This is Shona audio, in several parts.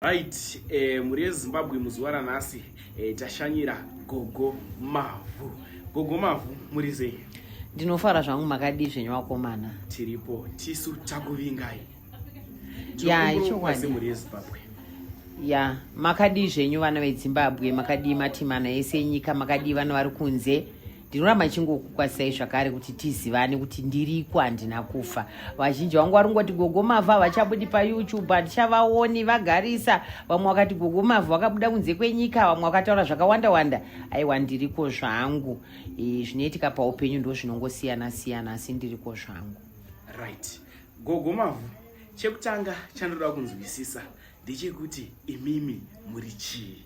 Right, eh, mhuri yezimbabwe muzuva ranhasi eh, tashanyira gogo mavhu gogo mavhu muri sei ndinofara zvangu makadii zvenyu vakomana tiripo tisu takuvingai ya ichokwadi mhuri yezimbabwe ya makadii zvenyu vana vedzimbabwe makadii matimana ese enyika makadii vana vari kunze ndinoramba ndichingokukwazisai zvakare kuti tizivane kuti ndiriko handina kufa vazhinji vangu vari kungoti gogo mavhu havachabudi payoutube handichavaoni vagarisa vamwe vakati gogo mavhu vakabuda kunze kwenyika vamwe vakataura zvakawanda wanda aiwa ndiriko zvangu e, zvinoitika paupenyu ndo zvinongosiyana siyana asi ndiriko zvangu right gogo mavhu chekutanga chandoda kunzwisisa ndechekuti imimi muri chii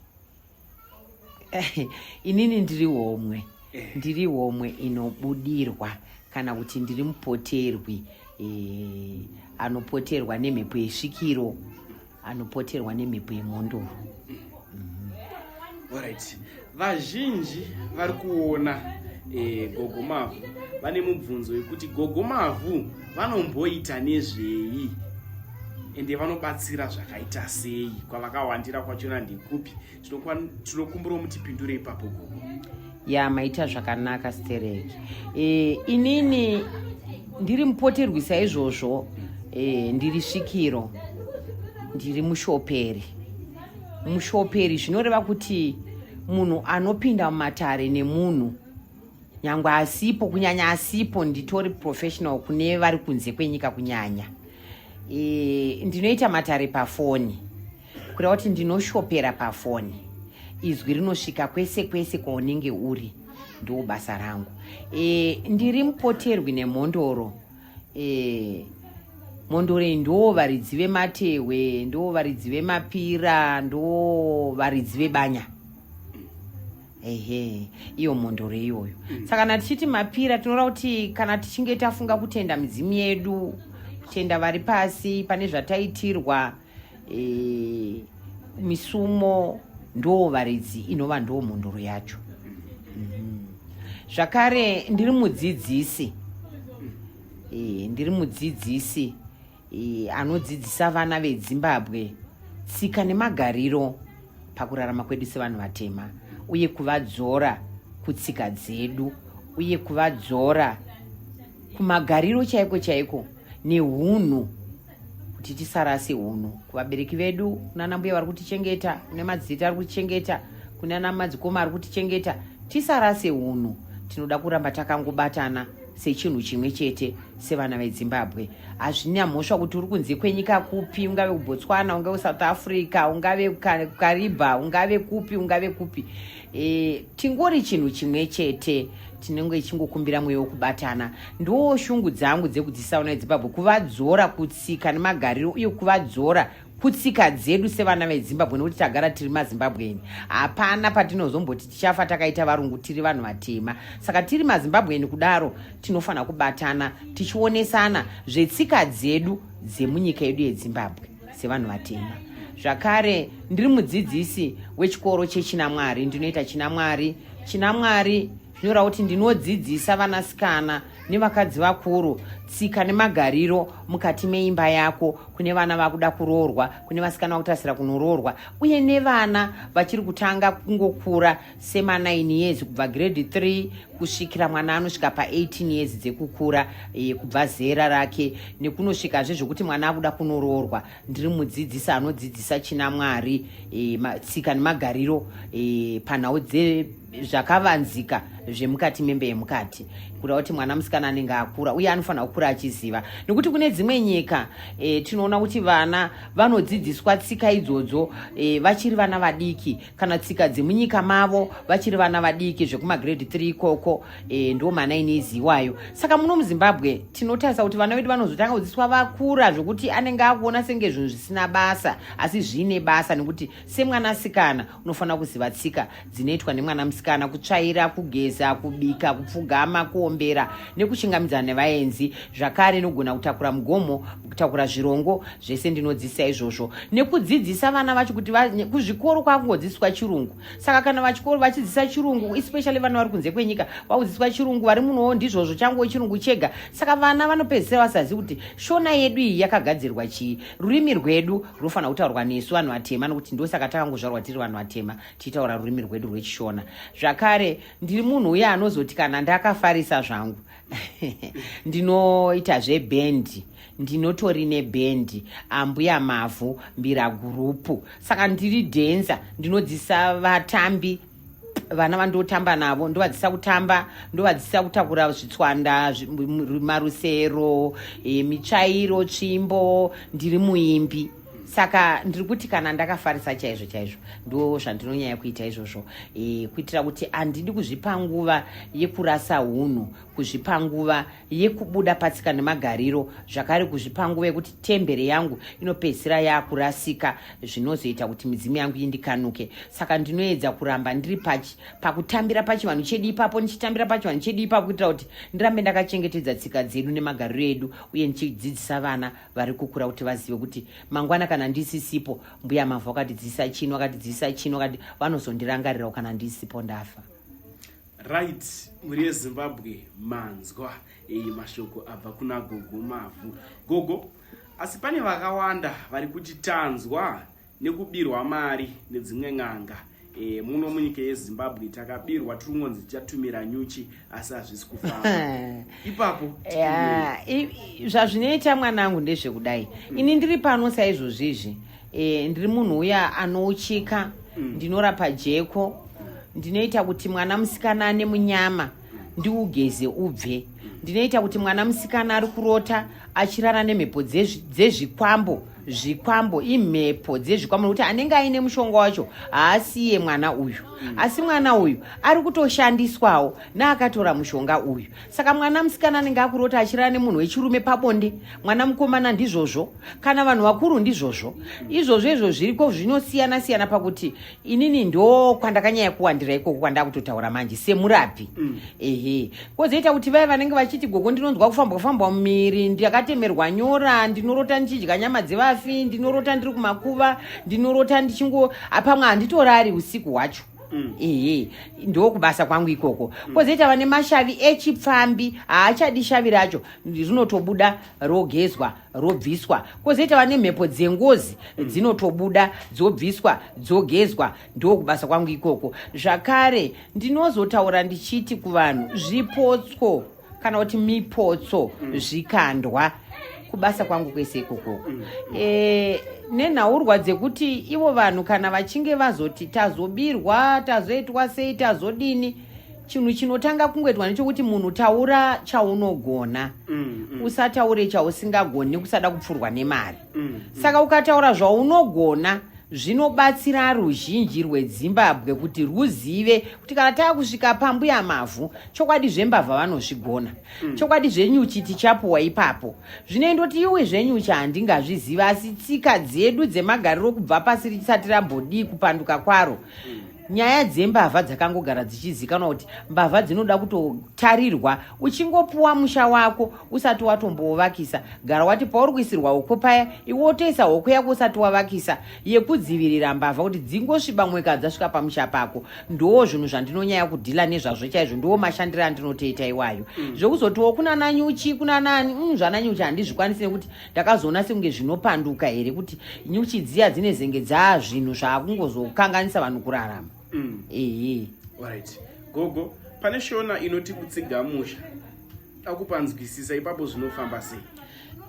inini ndiri homwe eh. ndiri homwe inobudirwa kana kuti ndiri mupoterwi eh, anopoterwa nemhepo yesvikiro anopoterwa nemhepo yemhondoro mm-hmm. orit vazhinji vari kuona eh, gogo mavhu vane mubvunzo wekuti gogo mavhu vanomboita nezvei ende vanobatsira zvakaita sei kwavakawandira kwachona ndekupi tinokumbira mutipindure ipapo gogo ya maita zvakanaka stereki e, inini ndiri mupoterwi saizvozvo e, ndiri svikiro ndiri mushoperi mushoperi zvinoreva kuti munhu anopinda mumatare nemunhu nyangwe asipo kunyanya asipo nditori professional kune vari kunze kwenyika kunyanya e, ndinoita matare pafoni kureva kuti ndinoshopera pafoni izwi rinosvika kwese kwese kwaunenge uri ndiwo basa rangu e, ndiri mupoterwi nemhondoro e, mhondoro iyi ndo varidzi vematehwe ndo varidzi vemapira ndo varidzi vebanya ehe iyo mhondoro iyoyo mm. saka kana tichiti mapira tinoda kuti kana tichinge tafunga kutenda midzimu yedu kutenda vari pasi pane zvataitirwa e, misumo ndoo varidzi inova ndoo mhondoro yacho mm. zvakare ndiri mudzidzisi e, ndiri mudzidzisi e, anodzidzisa vana vedzimbabwe tsika nemagariro pakurarama kwedu sevanhu vatema uye kuvadzora kutsika dzedu uye kuvadzora kumagariro chaiko chaiko neunhu kuti tisarase unhu kuvabereki vedu kunana mbuya vari kutichengeta kune madzita ari kutichengeta kunana madzikoma ari kutichengeta tisarase unhu tinoda kuramba takangobatana sechinhu chimwe chete sevana vezimbabwe hazvina mhosva kuti uri kunze kwenyika kupi ungave kubotswana ungave kusouth africa ungave kukariba ungave kupi ungave kupi e, tingori chinhu chimwe chete tinenge ichingokumbira mweya wekubatana ndoo shungu dzangu dzekudzisaona ezimbabwe kuvadzora kutsika nemagariro uye kuvadzora kutsika dzedu sevana vezimbabwe nekuti tagara tiri mazimbabweni hapana patinozomboti tichafa takaita varungu tiri vanhu vatema saka tiri mazimbabweni kudaro tinofanira kubatana tichionesana zvetsika dzedu dzemunyika yedu yezimbabwe sevanhu vatema zvakare ndiri mudzidzisi wechikoro chechinamwari ndinoita chinamwari chinamwari Nyora kuti ndinodzidzisa vanasikana nevakadzi vakuru tsika nemagariro mukati meimba yako kune vana vakuda kuroorwa kune vasikana vakutasira kunoroorwa uye nevana vachiri kutanga kungokura sema9 years kubva grade 3 kusvikira mwana anosvika pa18 years dzekukura e, kubva zera rake nekunosvikazve zvekuti mwana akuda kunoroorwa ndiri mudzidzisi anodzidzisa china mwari e, tsika nemagariro e, panhau dze zvakavanzika zvemukati membe yemukati kuda kuti mwana musikana anenge akura uye anofanira kukura achiziva nekuti kune dzimwe nyika e, tinoona kuti vana vanodzidziswa tsika idzodzo e, vachiri vana vadiki kana tsika dzemunyika mavo vachiri vana vadiki zvekumagrade 3 ikoko e, ndo mana inezi iwayo saka muno muzimbabwe tinotarisa kuti vana vedu vanozotanga kudzidziswa vakura zvekuti anenge akuona senge zvinhu zvisina basa asi zviine basa nekuti semwana sikana unofanira kuziva tsika dzinoitwa nemwana musikana kutsvaira kugeza kubika kupfugama kuombera nekuchingamidzana nevaenzi zvakare nogona kutakura mugomo kutakura zvirongo zvese ndinodzidzisa izvozvo nekudzidzisa vana vacho kuti kuzvikoro kwakungodzidziswa chirungu saka kana vachikoro vachidzidzisa chirungu especially vana vari kunze kwenyika vakudzidziswa chirungu vari munowo ndizvozvo changuwo chirungu chega saka vana vanopedzisira vasazivi kuti shona yedu iyi yakagadzirwa chii rurimi rwedu runofanira kutaurwa nesu vanhu vatema nokuti ndosaka takangozvarwa tiri vanhu vatema tichitaura rurimi rwedu rwechishona zvakare ndiri munhu uye anozoti kana ndakafarisa zvangu ndinoita zvebhendi ndinotori nebhendi ambuya mavhu mbira gurupu saka ndiri dhenza ndinodzisa vatambi vana vandotamba navo ndovadzisa kutamba ndovadzisa kutakura zvitswanda marusero e, mitsvairo tsvimbo ndiri muimbi saka ndiri kuti kana ndakafarisa chaizvo chaizvo ndo zvandinonyanya kuita izvozvo e, kuitira kuti handidi kuzvipa nguva yekurasa unhu kuzvipa nguva yekubuda patsika nemagariro zvakare kuzvipa nguva yekuti tembere yangu inopedzisira yakurasika zvinozoita kuti midzimu yangu indikanuke saka ndinoedza kuramba ndiri pachi pakutambira pachivanhu chedu ipapo ndichitambira pachivanhu chedu ipapo kuitira kuti ndirambe ndakachengetedza tsika dzedu nemagariro edu uye ndichidzidzisa vana vari kukura kuti vazive kuti mangwana kana ndisisipo mbuya mavhu akatidzidzisa chino akatidzidzisa chino akati vanozondirangarirawo kana ndisipo ndafa Right, muri yeZimbabwe manzwa iyi mashoko abva kuna gogo mavhu. Gogo, asi pane vakawanda vari kuti tanzwa nekubirwa mari nedzimwe n'anga. E, muno munyika yeZimbabwe takabirwa tiri kungonzi tichatumira nyuchi asi hazvisi kufamba. Ipapo yeah, zvazvinoita mwanangu ndezvekudai. Ini ndiri pano saizvozvizvi. e, ndiri munhu uya anouchika mm. ndinorapa jeko ndinoita kuti mwana musikana ane munyama ndiugeze ubve ndinoita kuti mwana musikana ari kurota achirara nemhepo dzezvikwambo zvikwambo imhepo dzezvikwambo nokuti anenge aine mushonga wacho haasiye mwana uyu mm. asi mwana uyu ari kutoshandiswawo naakatora mushonga uyu saka mwana musikana anenge akurota achirara nemunhu wechirume pabonde mwana mukomana ndizvozvo kana vanhu vakuru ndizvozvo izvozvo izvo zviriko zvinosiyana siyana pakuti inini ndo kwandakanyaya kuwandira ikoko kwandakutotaura manje semurapi mm. ehe kozoita kuti vaye vanenge vachiti gogo ndinonzwa kufambwa fambwa mumiri ndakatemerwa nyora ndinorota ndichidya nyama dzevafi ndinorota ndiri kumakuva ndinorota ndichingo apamwe handitorari usiku hwacho Mm. ehe ndokubasa kwangu ikoko mm. kozoita vane mashavi echipfambi haachadi shavi racho rinotobuda rogezwa robviswa kozoita vane mhepo dzengozi mm. dzinotobuda dzobviswa dzogezwa ndokubasa kwangu ikoko zvakare ndinozotaura ndichiti kuvanhu zvipotso kana kuti mipotso mm. zvikandwa kubasa kwangu kwese ikoko mm. e, nenhaurwa dzekuti ivo vanhu kana vachinge vazoti tazobirwa tazoitwa sei tazodini chinhu chinotanga kungoitwa nechokuti munhu taura chaunogona mm, mm. usataure chausingagoni nekusada kupfurwa nemari mm, mm. saka ukataura zvaunogona zvinobatsira ruzhinji rwedzimbabwe kuti rwuzive kuti kana tava kusvika pambuya mavhu chokwadi zvembavha vanozvigona mm. chokwadi zvenyuchi tichapuwa ipapo zvino ndoti iwe zvenyuchi handingazviziva asi tsika dzedu dzemagariro kubva pasi risati rambodii kupanduka kwaro mm. nyaya dzembavha dzakangogara dzichizikanwa kuti mbavha dzinoda kutotarirwa uchingopuwa musha wako usati watombouvakisa gara wati pauri kuisirwa hoko paya iwe wotoisa hoko yako usati wavakisa yekudzivirira mbavha kuti dzingosviba mweka dzasvika pamusha pako ndoo zvinhu zvandinonyaya kudhila nezvazvo chaizvo ndiwo mashandiro andinotoita iwayo mm. zvekuzotiwo kunananyuchi kunanani mm, zvananyuchi handizvikwanisi nekuti ndakazoona sekunge zvinopanduka here kuti nyuchi dziya dzine zenge dzaa zvinhu zvaakungozokanganisa vanhu kurarama mm. ehe right gogo pane shona inoti kutsiga musha akupanzwisisa ipapo zvinofamba sei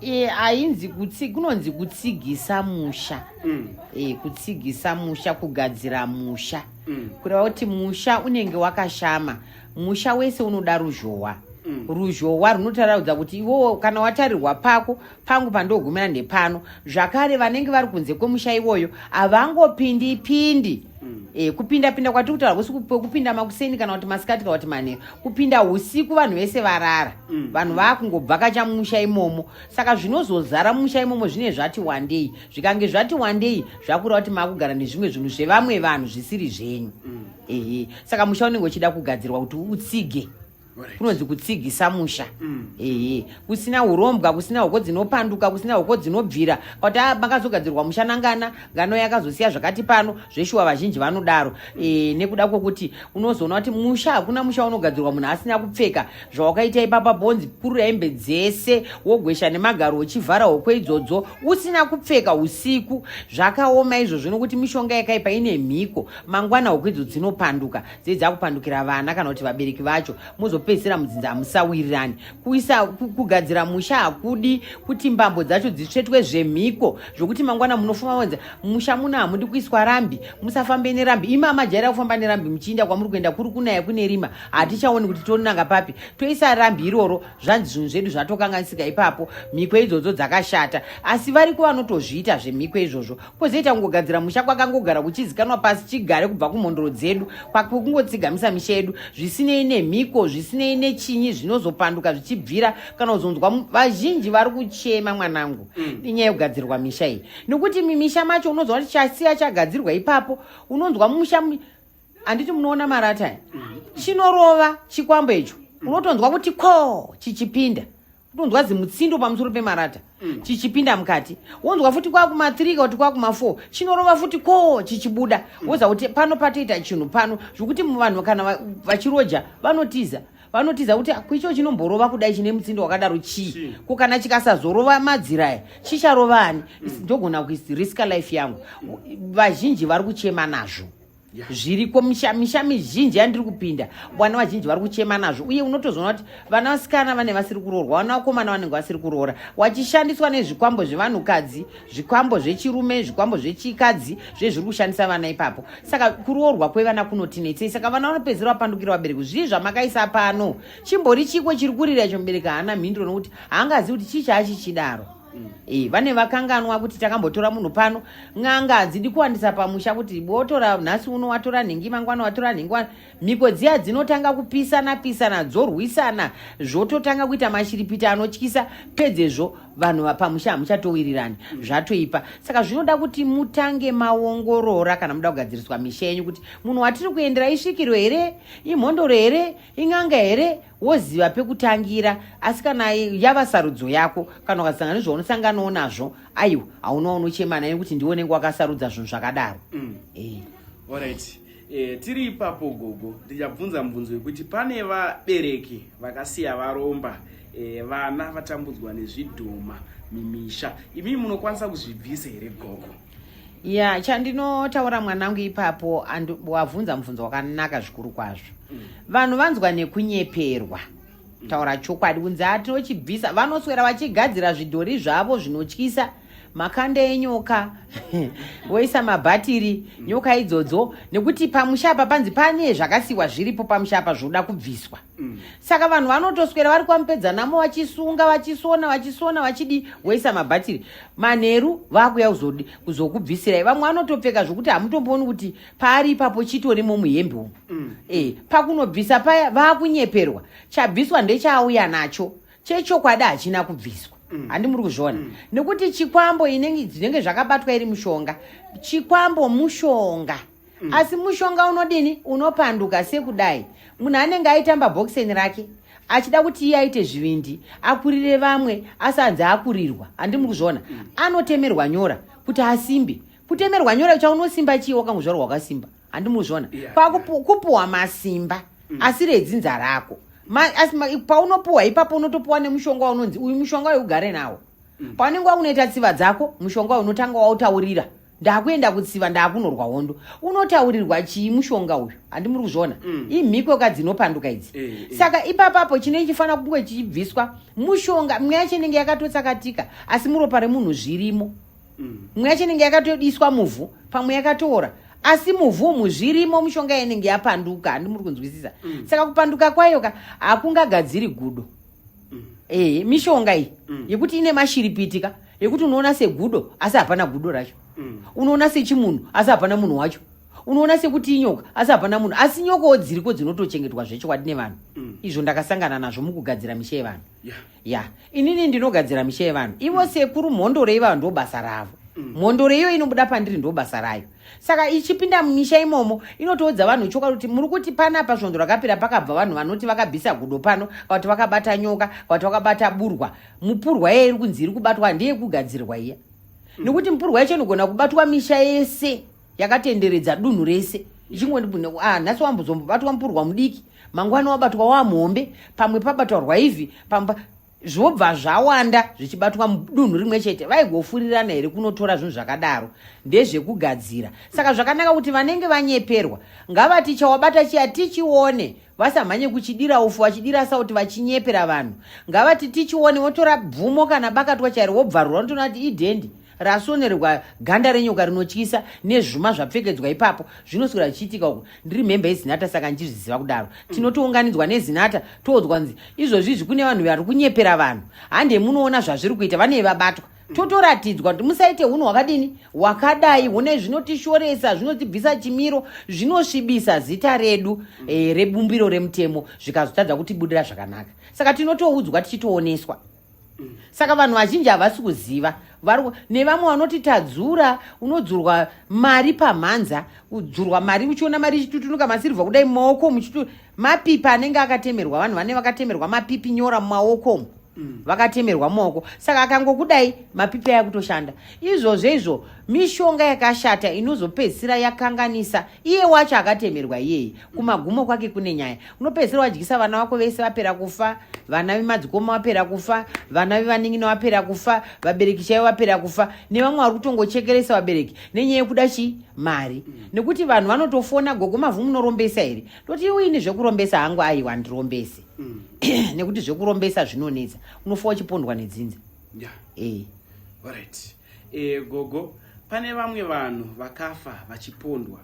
e, ainzi kutsi, kunonzi kutsigisa musha mm. e, kutsigisa musha kugadzira musha mm. kureva kuti musha unenge wakashama musha wese unoda ruzhowa mm. ruzhowa runotaraudza kuti iwowo kana watarirwa pako pangu pandogumira ndepano zvakare vanenge vari kunze kwemusha iwoyo havangopindi pindi mm. e, eh, kupinda pinda kwatiri kutaura kusi kupinda makuseni kana kuti masikati kana kuti manheru kupinda usiku vanhu vese varara mm. vanhu vakungobvakacha mumusha imomo saka zvinozozara mumusha imomo zvine zvati wandei zvikange zvati wandei zvakureva kuti makugara nezvimwe zvinhu zvevamwe vanhu zvisiri zvenyu mm. ehe saka musha unenge uchida kugadzirwa kuti utsige kunonzi kutsigisa musha mm. ehe kusina urombwa kusina hoko dzinopanduka kusina hoko dzinobvira kuti ah, makazogadzirwa musha nangana ngano yakazosiya zvakati pano zveshuwa vazhinji vanodaro e, nekuda kwokuti unozoona kuti musha hakuna musha unogadzirwa munhu asina kupfeka zvawakaita ipapa bonzi purura hembe dzese wogwesha nemagaro uchivhara hoko idzodzo usina kupfeka usiku zvakaoma izvozvo nokuti mishonga yakaipa ine mhiko mangwana huku idzo dzinopanduka dzei dzakupandukira vana kana kuti vabereki vacho mozopedzisira mudzinza hamusawirirani kuisa kugadzira musha hakudi kuti mbambo dzacho dzitsvetwe zvemhiko zvokuti mangwana munofuma wenza musha muno hamudi kuiswa rambi musafambe nerambi imi amajaira kufamba nerambi muchiinda kwamuri kuenda kuri kunaya kune rima hatichaoni kuti tonanga papi toisa rambi iroro zvanzi zvinhu zvedu zvatokanganisika ipapo mhiko idzodzo dzakashata asi variko vanotozviita zvemhiko izvozvo kwozoita kungogadzira musha kwakangogara kuchizikanwa pasi chigare kubva kumhondoro dzedu kwakungotsigamisa misha yedu zvisinei nemhiko zvisinei nechinyi zvinozopanduka zvichibvira kana kuzonzwa vazhinji vari kuchema mwanangu mm. inyaya yekugadzirwa misha iyi nekuti mimisha macho unonzwa kuti chasiya chagadzirwa ipapo unonzwa musha handiti munoona marata mm. chinorova chikwambo icho mm. unotonzwa kuti ko chichipinda kutonzwa zimutsindo pamusoro pemarata mm. chichipinda mukati wonzwa futi kwakuma 3 kuti kwakuma 4 chinorova futi ko chichibuda mm. woza kuti pano patoita chinhu pano zvokuti vanhu kana vachiroja vanotiza vanotiza kuti kuicho chinomborova kudai chine mutsindo wakadaro chii ko kana chikasazorova madziraya chicharova ani mm. ndogona kurisika life yangu vazhinji vari kuchema nazvo zviriko misha misha mizhinji yandiri kupinda vana vazhinji vari kuchema nazvo uye unotozoona kuti vana vasikana vane vasiri kuroorwa vana vakomana vanenge vasiri kuroora wachishandiswa nezvikwambo zvevanhukadzi zvikwambo zvechirume zvikwambo zvechikadzi zve zviri kushandisa vana ipapo saka kuroorwa kwevana kunotinetsei saka vana vanopedzera vapandukira vabereki zvii zvamakaisa pano chimbori chiko chiri kurira icho mubereki haana mhinduro nokuti haangazivi kuti chii chaachichidaro mm. e, vane vakanganwa kuti takambotora munhu pano n'anga hadzidi kuwandisa pamusha kuti botora nhasi uno watora nhingi mangwana watora nhingi wana mhiko dziya dzinotanga kupisana pisana dzorwisana zvototanga kuita mashiripita anotyisa pedzezvo vanhu vapamusha hamuchatowirirani mm. zvatoipa saka zvinoda kuti mutange maongorora kana muda kugadziriswa misha yenyu kuti munhu watiri kuendera isvikiro here imhondoro here ing'anga here woziva pekutangira asi kana yava sarudzo yako kana ukasangana nezvaunosanganawo nazvo aiwa hauna unochema naye kuti ndiwe unenge wakasarudza zvinhu zvakadaro mm. hey. Eh. Alright. E, tiri ipapo gogo ndichabvunza mubvunzo wekuti pane vabereki vakasiya varomba e, vana vatambudzwa nezvidhoma mimisha imi munokwanisa kuzvibvisa here gogo ya chandinotaura mwanangu ipapo and wabvunza mubvunzo wakanaka zvikuru kwazvo mm. vanhu vanzwa nekunyeperwa mm. taura chokwadi kunzi atinochibvisa vanoswera vachigadzira zvidhori zvavo zvinotyisa makanda enyoka woisa mabhatiri mm. nyoka idzodzo nekuti pamusha apa panzi pane zvakasiwa zviripo pamusha apa zvoda kubviswa Mm. saka vanhu vanotoswera vari kwamupedza namo vachisunga vachisona vachisona vachidi woisa mabhatiri manheru vakuya kuzokubvisirai vamwe vanotopfeka zvokuti hamutombooni kuti paari ipapo chitori momuhembe umu mm. e, pakunobvisa paya vakunyeperwa chabviswa ndechaauya nacho chechokwadi hachina kubviswa mm. handi muri kuzviona mm. nekuti chikwambo inenge zvinenge zvakabatwa iri mushonga chikwambo mushonga mm. asi mushonga unodini unopanduka sekudai munhu anenge aitamba bhokiseni rake achida kuti iye aite zvivindi akurire vamwe asanzi akurirwa handi muri kuzviona mm. anotemerwa nyora kuti asimbe kutemerwa nyora kucha unosimba chii wakangozvarwa wakasimba handi muri kuzviona yeah, kwakupuwa yeah. masimba mm. asi redzinza rako paunopuwa ipapo unotopuwa nemushonga waunonzi uyu mushonga wekugare nawo mm. paunenge wakunoita tsiva dzako mushonga unotanga wautaurira ndakuenda kutsiva ndakunorwa hondo unotaurirwa chii mushonga uyu handi muri kuzviona mm. imhiko ka dzinopanduka idzi e, e. saka ipapapo chinenge chifanira kunge chichibviswa mushonga mwe yacho inenge yakatotsakatika asi muropa remunhu zvirimo mm. mwe yacho inenge yakatodiswa muvhu pamwe yakatoora asi muvhu umu zvirimo mushonga inenge yapanduka handi muri kunzwisisa mm. saka kupanduka kwayo ka hakungagadziri gudo mm. e, mishonga iyi mm. yekuti ine mashiripitika mm. yekuti unoona segudo asi hapana gudo racho mm. unoona sechimunhu asi hapana munhu wacho unoona sekuti inyoka asi hapana munhu asi nyokawo dziriko dzinotochengetwa zvechokwadi nevanhu mm. izvo ndakasangana nazvo mukugadzira misha yevanhu ya yeah. inini ndinogadzira misha yevanhu ivo mm. sekuru mhondoro ivayo ndo basa ravo mm. mhondoro iyo inobuda pandiri ndo basa rayo saka ichipinda mumisha imomo inotoudza vanhu chokwadi kuti muri kuti pana pasvondo rakapera pakabva vanhu vanoti vakabvisa gudo pano kakuti vakabata nyoka kakuti vakabata burwa mupurwa iya iri kunzi iri kubatwa ndeyekugadzirwa iya mm. nekuti mupurwa yacho inogona kubatwa misha yese yakatenderedza dunhu rese ichingondibune ah, nhasi wambozombobatwa mupurwa mudiki mangwana wabatwa wamuhombe pamwe pabataurwa ivi pamwe zvobva zvawanda zvichibatwa mudunhu rimwe chete vaigofurirana here kunotora zvinhu zvakadaro ndezvekugadzira saka zvakanaka kuti vanenge vanyeperwa ngavati chawabata chiya tichione vasamhanye kuchidira ufu vachidira sauti vachinyepera vanhu ngavati tichione votora bvumo kana bakatwa chairo vobvarura unotoona kuti idhendi rasonerwa ganda renyoka rinotyisa nezvuma zvapfekedzwa ipapo zvinoswera zvichiitika uku ndiri mhembe yezinata saka ndichizviziva kudaro tinotounganidzwa nezinata toudzwa nzi izvozvi izvi kune vanhu vari kunyepera vanhu hande munoona zvazviri kuita vanei vabatwa totoratidzwa kuti musaite hunhu hwakadini hwakadai hune zvinotishoresa zvinotibvisa chimiro zvinosvibisa zita redu e, rebumbiro remutemo zvikazotadza kutibudira zvakanaka saka tinotoudzwa tichitooneswa saka vanhu vazhinji havasi kuziva nevamwe vanoti tadzura unodzurwa mari pamhanza kudzurwa mari uchiona mari ichitutunuka masirivha kudai maoko muchitu mapipi anenge akatemerwa vanhu vane vakatemerwa mapipi nyora mumaoko umu mm. vakatemerwa mumaoko saka akangokudai mapipi aya kutoshanda izvozvo izvo mishonga yakashata inozopedzisira yakanganisa iye wacho akatemerwa iyeye kumagumo kwake kune nyaya unopedzisira wadyisa vana vako vese vapera kufa vana vemadzikoma vapera kufa vana vevanin'ina vapera kufa vabereki chaivo vapera kufa nevamwe vari kutongochekeresa vabereki nenyaya yekuda chii mari mm. nekuti vanhu vanotofona gogo mavhu munorombesa here toti iwe ini zvekurombesa hangu aiwa handirombese mm. nekuti zvekurombesa zvinonetsa unofa uchipondwa nedzinza yeah. e. right. e, gogo pane vamwe vanhu vakafa vachipondwa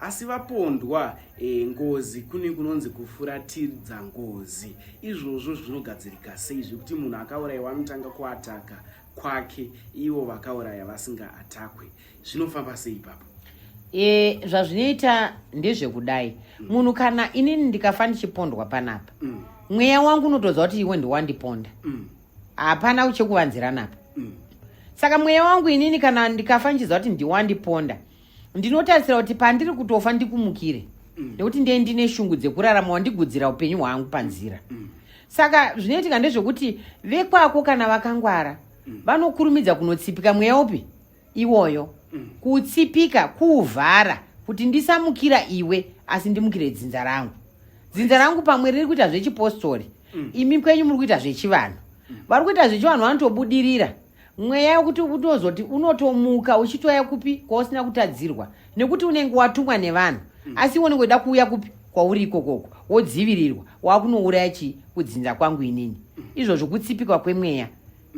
asi vapondwa e, ngozi kune kunonzi kufuratiridza ngozi izvozvo zvinogadzirika sei zvekuti munhu akaurayiwa anotanga kuataka kwake ivo vakauraya vasinga atakwe zvinofamba sei ipapo e, zvazvinoita ndezvekudai mm. munhu kana inini ndikafa ndichipondwa panapa mm. mweya wangu unotoziva kuti iwe ndiwandiponda mm. hapana mm. chekuvanziranapa mm. saka mweya wangu inini kana ndikafa ndichiziva kuti ndiwandiponda ndinotarisira kuti pandiri kutofa ndikumukire mm. nekuti ndiye ndine shungu dzekurarama wandigudzira upenyu hwangu panzira mm. mm. saka zvinoitika ndezvekuti vekwako kana vakangwara mm. vanokurumidza kunotsipika mweya upi iwoyo mm. kutsipika kuvhara kuti ndisamukira iwe asi ndimukire dzinza rangu dzinza rangu pamwe riri kuita zvechipostori mm. imi kwenyu muri kuita zvechivanhu mm. vari kuita zvechivanhu vanotobudirira mweya wekuti unozoti unotomuka uchitoya kupi kwausina kutadzirwa nekuti unenge watumwa nevanhu mm. asi iwe unenge uida kuuya kupi kwauri ikokoko wodzivirirwa wakunouraya chii kudzinza kwangu inini mm. izvozvo kutsipikwa kwemweya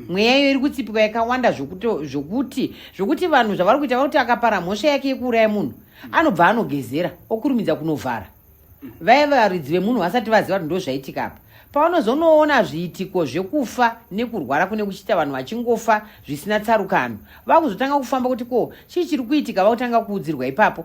mweya iyo iri kutsipika yakawanda zvokuti zvokuti zvokuti vanhu zvavari kuita vakuti akapara mhosva yake yekuuraya munhu anobva anogezera okurumidza kunovhara vaya varidzi vemunhu vasati vaziva kuti ndozvaitika apa pavanozonoona zviitiko zvekufa nekurwara kune kuchiita vanhu vachingofa zvisina tsarukano vakuzotanga kufamba kuti ko chii chiri kuitika vakutanga kuudzirwa ipapo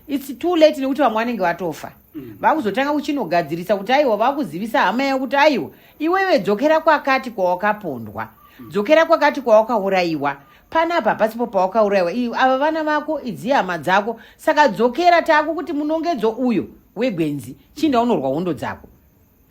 its too late nekuti vamwe vanenge vatofa mm. vakuzotanga kuchinogadzirisa kuti aiwa vakuzivisa hama yavo kuti aiwa iwewe dzokera kwakati kwawakapondwa mm. dzokera kwakati kwawakaurayiwa panapa hapasipo pawakaurayiwa i ava vana vako idzi hama dzako saka dzokera tako kuti munongedzo uyo wegwenzi chinda unorwa hondo dzako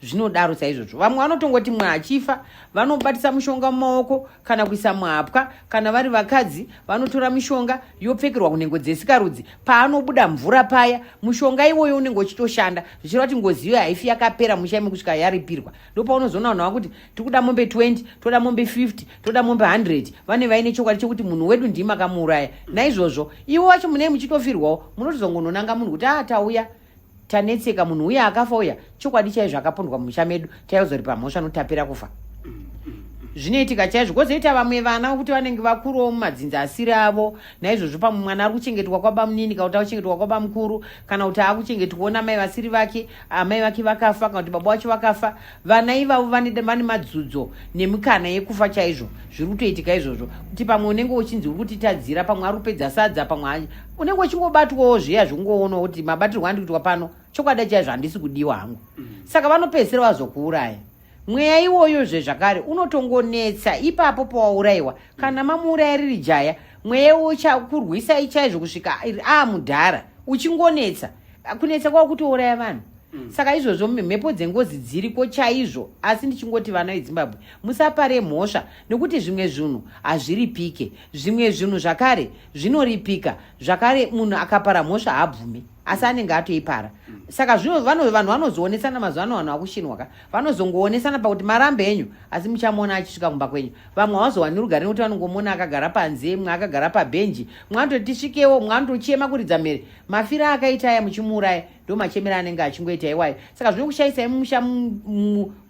zvinodaro saizvozvo vamwe vanotongoti mwa achifa vanobatisa mushonga mumaoko kana kuisa muhapwa kana vari vakadzi vanotora mishonga yopfekerwa kunhengo dzesikarudzi paanobuda mvura paya mushonga iwoyo unenge uchitoshanda zvichireva kuti ngozi iyoyo haifi yakapera mushaime kusvika yaripirwa ndopaunozoona vanhu vakuti tiri kuda mombe 20 toda mombe 50 toda mombe 100 vane vaine chokwadi chekuti munhu wedu ndii makamuuraya naizvozvo ivo vacho munei muchitofirwawo munotozongononanga munhu kuti atauya ah, tanetseka munhu uye akafa uya chokwadi chaizvo akapondwa mumusha medu taizoripa mhosva notapira kufa zvinoitika chaizvo kwozoita vamwe vana vokuti vanenge vakuru mumadzinzi asiri avo naizvozvo pamwe mwana ari kuchengetwa kwabamunini kana kuti akuchengetwa kwabamukuru kana kuti akuchengetwa namai vasiri vake amai vake vakafa kana kuti baba wacho vakafa Vana ivavo vane vane madzudzo nemikana yekufa chaizvo zviri kutoitika izvozvo kuti pamwe unenge uchinzi uri kutitadzira pamwe ari kupedza sadza pamwe aje unenge uchingobatwawo zviya zvekungoonawo kuti mabatirwo andi kuitwa pano chokwadi chaizvo handisi kudiwa hangu mm. saka vanopedzisira vazokuuraya mweya iwoyo zve zvakare unotongonetsa ipapo pawaurayiwa kana mamuuraya riri jaya mweya uchakurwisai chaizvo kusvika aamudhara uchingonetsa kunetsa kwavo kutouraya vanhu mm. saka izvozvo mhepo dzengozi dziriko chaizvo asi ndichingoti vana vedzimbabwe musapare mhosva nekuti zvimwe zvinhu hazviripike zvimwe zvinhu zvakare zvinoripika zvakare munhu akapara mhosva haabvume asi anenge atoipara mm. saka zvino vanhu vanozoonesana mazuva ano vanhu vakushinwa ka vanozongoonesana pakuti marambe enyu asi muchamuona achisvika kumba kwenyu vamwe havazowani rugare nekuti vanongomuona akagara panze mwe akagara pabhenji mwe anototi tisvikewo mwe anotochema kuridza mhere mafira akaita aya muchimuuraya ndo machemera anenge achingoita iwayo saka zvino kushaisa mumusha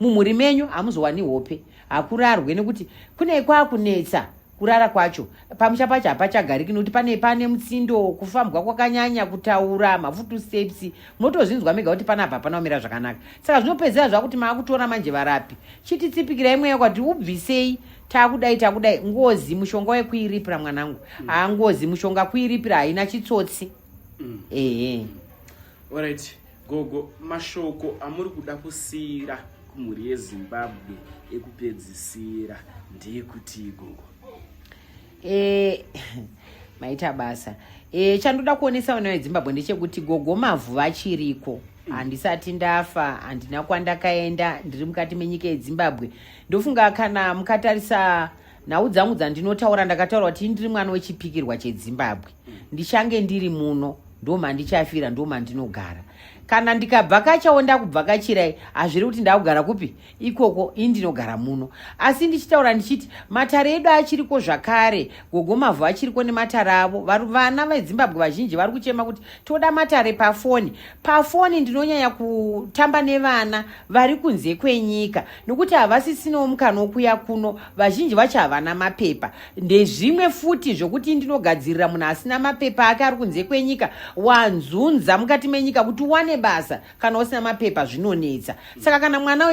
mumhuri menyu hamuzowani hope hakurarwe nekuti kune kwakunetsa kurara kwacho pamusha pacho hapachagariki nekuti pane pane mutsindo kufambwa kwakanyanya kutaura mafutu steps munotozvinzwa mega kuti panapa hapana kumira zvakanaka saka zvinopedzera zvakuti maakutora manje varapi chiti tsipikirai mweya kwati ubvisei takudai takudai ngozi mushonga wekuiripira mwanangu mm. haa mm. ngozi mushonga kuiripira haina chitsotsi mm. ehe mm. orit gogo mashoko amuri kuda kusiyira kumhuri yezimbabwe ekupedzisira ndeyekuti gogo e, maita basa e, chandoda kuonesa vana vezimbabwe ndechekuti gogo mavhu vachiriko handisati ndafa handina kwandakaenda ndiri mukati menyika yezimbabwe ndofunga kana mukatarisa nhau dzangu dzandinotaura ndakataura kuti ndiri mwana wechipikirwa chezimbabwe ndichange ndiri muno ndomandichafira ndomandinogara kana ndikabvakachawo ndakubvakachirai hazviri kuti ndakugara kupi ikoko ini ndinogara muno asi ndichitaura ndichiti matare edu achiriko zvakare gogo mavhu achiriko nematare avo vana vezimbabwe vazhinji vari kuchema kuti toda matare pafoni pafoni ndinonyanya kutamba nevana vari kunze kwenyika nokuti havasisinawo mukana wokuya kuno vazhinji vacho havana mapepa ndezvimwe futi zvokuti ndinogadzirira munhu asina mapepa ake ari kunze kwenyika wanzunza mukati menyika kuti uwane basa kana usina mapepa zvinonetsa saka kana mwana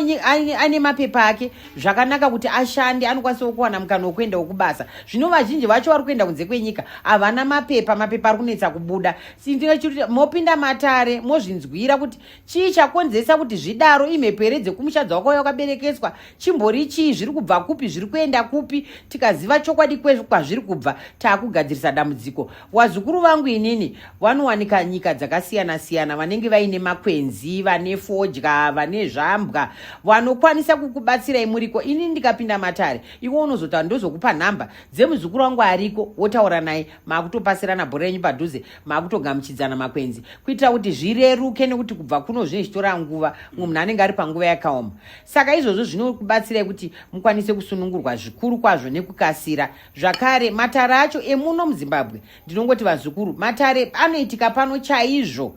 ane mapepa ake zvakanaka kuti ashande anokwanisa kuwana mukana wekuenda wekubasa zvino vazhinji vacho vari kuenda kunze kwenyika havana mapepa mapepa ari kunetsa kubuda sindinechikuti mopinda matare mozvinzwira kuti chii chakonzesa kuti zvidaro imhepo here dzekumushadza wako uya wakaberekeswa chimbori chii zviri kubva kupi zviri kuenda kupi tikaziva chokwadi kwazviri kubva taakugadzirisa dambudziko Wazukuru vangu inini vanowanika nyika dzakasiyana siyana, vanenge vaine makwenzi, vane fodya, vane zvambwa, vanokwanisa kukubatsirai muriko. Ini ndikapinda matare, iwe unozotaura, ndozokupa nhamba dzemuzukuru wangu ariko, wotaura naye, makutopasirana bhora renyu padhuze, makutogamuchidzana makwenzi, kuitira kuti zvireruke, nekuti kubva kuno zvinenge zvichitora nguva, mumwe munhu anenge ari panguva yakaoma. Saka izvozvo zvinokubatsirai kuti mukwanise kusunungurwa zvikuru kwazvo nekukasira. zvakare matare acho emuno muzimbabwe ndinongoti vazukuru matare anoitika pano chaizvo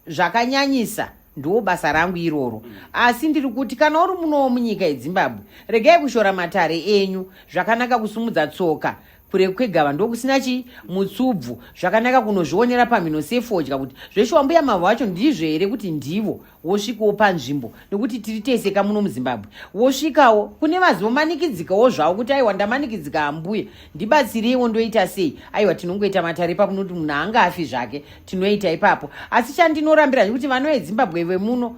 zvakanyanyisa ndiwo basa rangu iroro asi ndiri kuti kana uri munowo munyika yezimbabwe regai kushora matare enyu zvakanaka kusumudza tsoka kure kwegava ndokusina chii mutsubvu zvakanaka kunozvionera pamhino sefodya kuti zveshuwa mbuya mavo vacho ndizvo here kuti ndivo wosvikawo panzvimbo nekuti tiri tese ka muno muzimbabwe wosvikawo kune vazomanikidzikawo zvavo kuti aiwa ndamanikidzika hambuya ndibatsireiwo ndoita sei aiwa tinongoita matare ipapo noti munhu anga afi zvake tinoita ipapo asi chandinorambira kuti vanovezimbabwe vemuno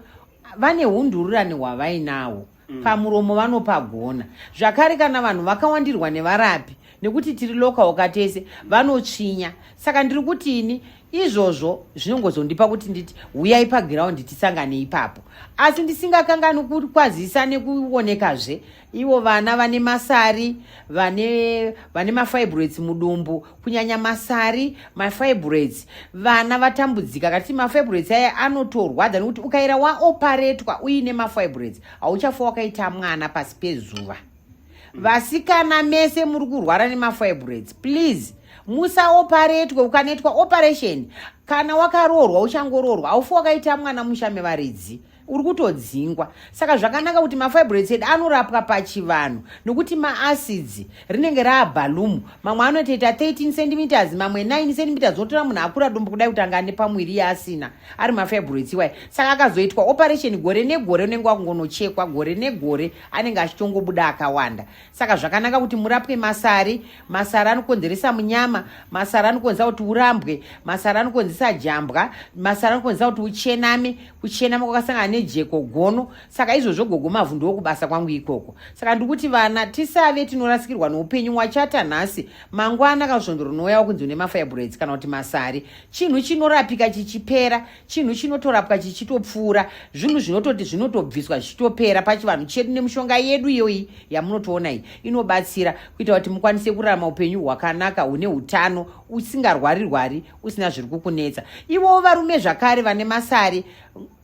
vane undururani hwavainawo mm. pamuromo vanopagona zvakare kana vanhu vakawandirwa nevarapi nekuti tiri lokaoka tese vanotsvinya saka ndiri kuti ini izvozvo zvinongozondipa kuti nditi huyai pagiraundi tisangane ipapo asi ndisingakangani kukwazisa nekuonekazve ivo vana vane masari vane vane mafibroids mudumbu kunyanya masari mafibroids vana vatambudzika kati mafibroids aya anotorwadza nekuti ukaira waoparetwa uine mafibroids hauchafa wakaita mwana pasi pezuva vasikana mese muri kurwara nemafibroids please musaoparetwe ukanetwa operation kana wakaroorwa uchangoroorwa haufa wakaita mwana musha mevaridzi wa uri kutodzingwa saka zvakanaka kuti mafibroids edu anorapwa pachivanhu nokuti maacids rinenge raabhalumu mamwe anotoita 13 centimeters mamwe 9 centimeters unotora munhu akura dumbu kudai kuti anga ane pamwiri yaasina ari mafibroids iwayo saka akazoitwa operation gore negore unenge wakungonochekwa gore negore anenge achitongobuda akawanda saka zvakanaka kuti murapwe masari masari anokonzeresa munyama masari anokonzeresa kuti urambwe masari anokonzeresa jambwa masari anokonzeresa kuti uchename kuchena kwakasangana nejeko gono saka izvozvo gogo mavhu ndokubasa kwangu ikoko saka ndikuti vana tisave tinorasikirwa noupenyu wachata nhasi mangwana kana svondo rinouya wakunzi une mafirebraids kana kuti masari chinhu chinorapika chichipera chinhu chinotorapwa chichitopfuura zvinhu zvinototi zvinotobviswa zvichitopera pachivanhu chedu nemushonga yedu iyoyi yamunotoona iyi inobatsira kuita kuti mukwanise kurarama upenyu hwakanaka hune utano usingarwari rwari usina zviri kukunetsa ivowo varume zvakare vane masari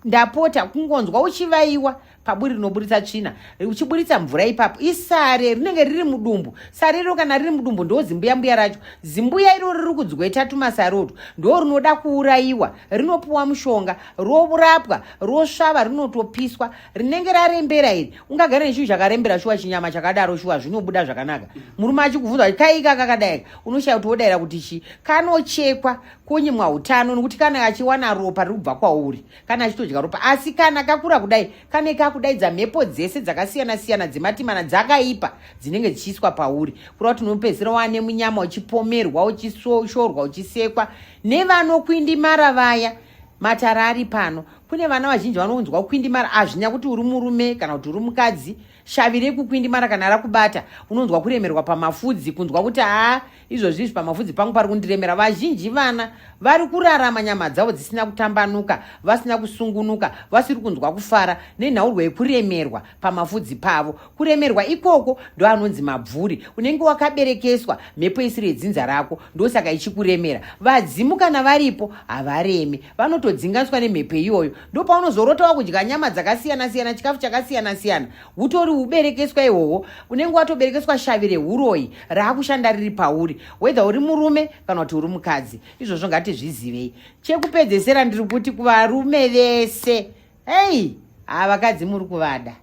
ndapota kungonzwa uchivaiwa paburi rinoburitsa tsvina uchiburitsa mvura ipapo isare rinenge riri mudumbu sare iro kana riri mudumbu ndo zimbuya mbuya racho zimbuya iro riri kudzweta tumasare utwo ndo rinoda kuurayiwa rinopuwa mushonga rourapwa rosvava rinotopiswa rinenge rarembera iri ungagara nechinhu chakarembera shuwa chinyama chakadaro shuwa zvinobuda zvakanaka murume achikubvunza kuti kaika kakadaika unoshaya kuti wodaira kuti chi kanochekwa konyimwa utano nokuti kana achiwana ropa riri kubva kwauri kana achitodya ropa asi kana kakura kudai kane kakudaidza mhepo dzese dzakasiyana siyana dzematimana dzakaipa dzinenge dzichiiswa pauri kureva kuti unopedzisira wane munyama uchipomerwa uchishorwa uchisekwa nevanokuindimara vaya matara ari pano kune vana vazhinji vanonzwa kukwindimara hazvinya kuti uri murume kana kuti uri mukadzi shavi rekukwindimara kana rakubata unonzwa kuremerwa pamafudzi kunzwa kuti haa izvozvi izvi pamafudzi pangu pari kundiremera vazhinji vana vari kurarama nyama dzavo dzisina kutambanuka vasina kusungunuka vasiri kunzwa kufara nenhaurwa yekuremerwa pamafudzi pavo kuremerwa ikoko ndoanonzi mabvuri unenge wakaberekeswa mhepo isiri yedzinza rako ndosaka ichikuremera vadzimu kana varipo havaremi vanotodzinganiswa nemhepo iyoyo ndopaunozorota wakudya nyama dzakasiyana siyana chikafu chakasiyana siyana utori uberekeswa ihwohwo unenge watoberekeswa shavi reuroyi raakushanda riri pauri wedha uri murume kana kuti uri mukadzi izvozvo ngatizvizivei chekupedzesera ndiri kuti kuvarume vese Hey, ah vakadzi muri kuvada.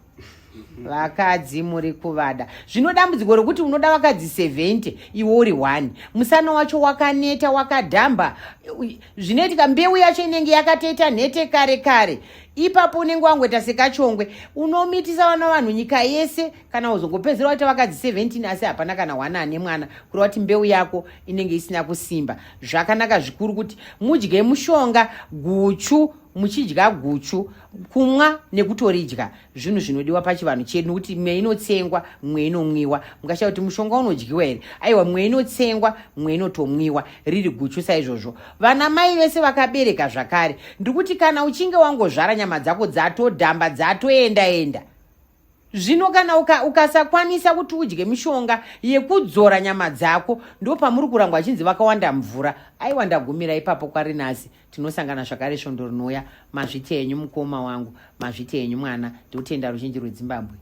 Vakadzi muri kuvada. Zvino dambudziko rokuti unoda vakadzi 70 iwe uri one. Musana wacho wakaneta wakadhamba. Zvinoitika mbeu yacho inenge yakatoita nhete kare kare. Ipapo unenge wangoita sekachongwe. Unomitisa vana vanhu nyika yese kana uzongopedzera waita vakadzi 17 asi hapana kana one ane mwana. Kureva kuti mbeu yako inenge isina kusimba. Zvakanaka zvikuru kuti mudye mushonga guchu muchidya guchu kumwa nekutoridya zvinhu zvinodiwa pachivanhu chedu nokuti mwe inotsengwa mwe inomwiwa mukashaya kuti mushonga unodyiwa here aiwa mwe inotsengwa mwe inotomwiwa riri guchu saizvozvo vana mai vese vakabereka zvakare ndikuti kana uchinge wangozvara nyama dzako dzatodhamba dzatoenda enda, enda. zvino kana uka, ukasakwanisa kuti udye mishonga yekudzora nyama dzako ndo pamuri kurangwa achinzi vakawanda mvura aiwa ndagumira ipapo kwarinasi tinosangana zvakare svondo rinouya mazviti enyu mukoma wangu mazviti enyu mwana ndikutenda ruzhinji rwedzimbabwe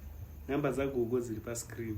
namba dzagogo dziri pascreen